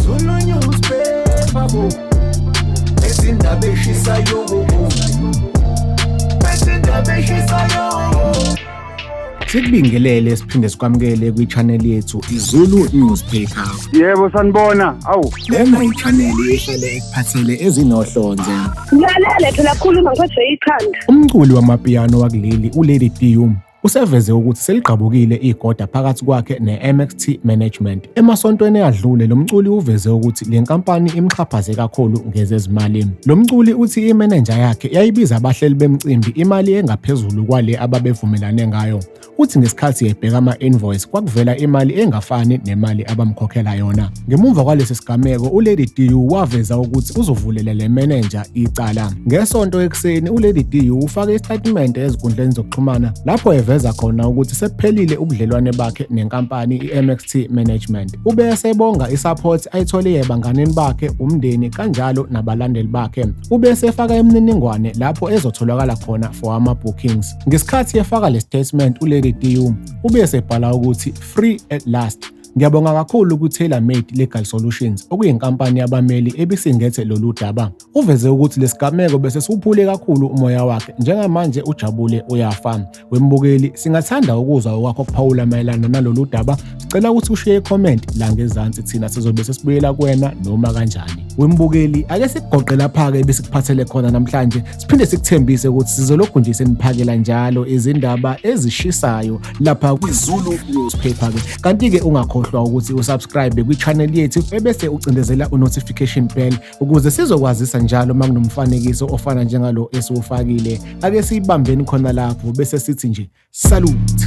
Zulu newspaper bo Ezindaba eshisayo bo Ezindaba eshisayo Sikubingelele siphinde sikwamukele kwi-channel yethu iZulu Newspaper. Yebo sanibona. Awu. Lena i-channel ehlele ekuphathele ezinohlonze. Ngilalele phela khuluma ngiphethwe ikhanda. Umculi wamapiano wakuleli uLady Dium Useveze ukuthi seligqabukile igoda phakathi kwakhe ne-MXT Management. Emasontweni adlule lo mculi uveze ukuthi le nkampani imxhaphaze kakhulu ngezezimali. Lo mculi uthi imenenja yakhe yayibiza abahleli bemcimbi imali engaphezulu kwale ababevumelane ngayo. Uthi ngesikhathi ebheka ama-invoice kwakuvela imali engafani nemali abamkhokhela yona. Ngemuva kwalesi sigameko uLady DU waveza ukuthi uzovulela le menenja icala. Ngesonto ekuseni uLady DU ufake isitatimende ezinkundleni zokuxhumana lapho eveza khona ukuthi sekuphelile ubudlelwane bakhe nenkampani i-MXT Management. Ube esebonga i-support ayithole ebanganini bakhe, umndeni kanjalo nabalandeli bakhe. Ube esefaka imininingwane lapho ezotholakala khona for ama-bookings. Ngesikhathi efaka le statement uLady DU ube esebhala ukuthi free at last Ngiyabonga kakhulu ku-Tailor Made Legal Solutions okuyinkampani yabameli ebisingethe lolu daba. Uveze ukuthi lesigameko bese siwuphule kakhulu umoya wakhe njengamanje ujabule uyafa. Wembukeli singathanda ukuzwa okwakho kuphawula mayelana nalolu daba. Sicela ukuthi ushiye i-comment la ngezansi thina sizobe sesibuyela kuwena noma kanjani. Wembukeli ake sikugoqe lapha-ke besikuphathele khona namhlanje siphinde sikuthembise ukuthi sizolokhu nje seniphakela njalo izindaba ezishisayo lapha kwizulu newspaper ke kanti-ke ungakhohlwa ukuthi usubscribe kwi-channel yethu ebese ucindezela u-notification bell ukuze sizokwazisa njalo uma kunomfanekiso ofana njengalo esiwufakile ake siyibambeni khona lapho bese sithi nje salute